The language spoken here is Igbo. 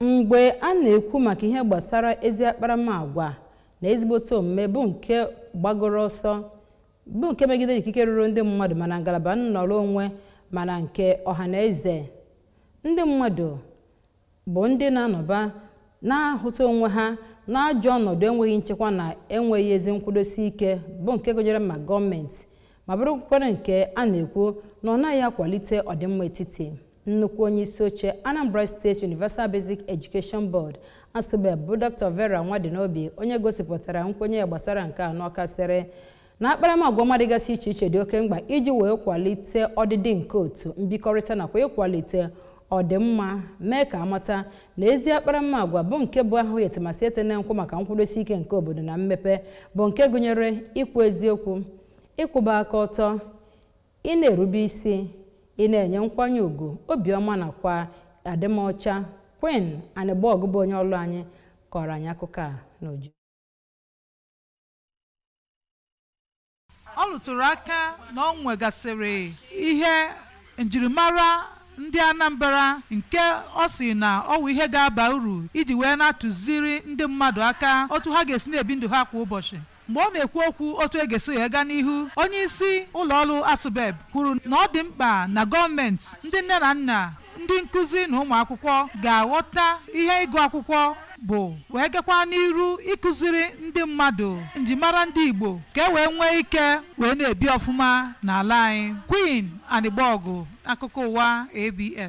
mgbe a na-ekwu maka ihe gbasara ezi akparamagwa na ezigbote omume bụ nke gbagoro ọsọ bụ nke megidere ikike ruru ndị mmadụ ma na ngalaba nnọrọ onwe ma na nke ọha na eze ndị mmadụ bụ ndị na-anọba na-ahụta onwe ha n'ajọ ọnọdụ enweghị nchekwa na enweghị ezi nkwụdosi ike bụ nke gụnyere ma gọọmenti ma bụrụkwara nke a na-ekwu na ọ naghị akwalite ọdịmma etiti nnukwu onye isi oche anambra state universal basic education board asubeb bụ dr vera nwadinobi onye gosipụtara nkwenye ya gbasara nke a n'ọka sịrị na akparamagwa ọma dịgasị iche iche dị oke mkpa iji wee kwalite ọdịdị nke otu mbikọrịta nakwa ịkwalite ọdịmma mee ka a mata na ezi akparamagwa bụ nke bụ ahụ ete ma sị etene nkwụ maka nkwụdosi ike nke obodo na mmepe bụ nke gụnyere ikwu eziokwu ịkwụba aka ọtọ Ịna-erube isi, ịna-enye nkwanye ugwu, obiọma nakwa adịmọcha, Queen Anịgbọgụ bụ onye ọlụ anyị kọọrọ anyị akụkọ a n'uju. Ọ lụtụrụ aka na ọ nwegasịrị ihe njirimara ndị Anambra nke ọ sị na ọ wụ ihe ga-aba uru iji wee na-atụziri ndị mmadụ aka otu ha ga-esi na-ebi ndụ ha kwa ụbọchị. Mgbe ọ na-ekwu okwu otu e ga-esi wee gaa n'ihu, onyeisi ụlọọrụ Asubeb kwuru na ọ dị mkpa na gọọmenti, ndị nne na nna, ndị nkụzi na ụmụ akwụkwọ ga-aghọta ihe ịgụ akwụkwọ bụ wee gakwa n'iru ịkụziri ndị mmadụ njimara ndị Igbo ka e wee nwee ike wee na-ebi ọfụma n'ala anyị. Queen Anịgbọgụ, akụkọ ụwa ABS.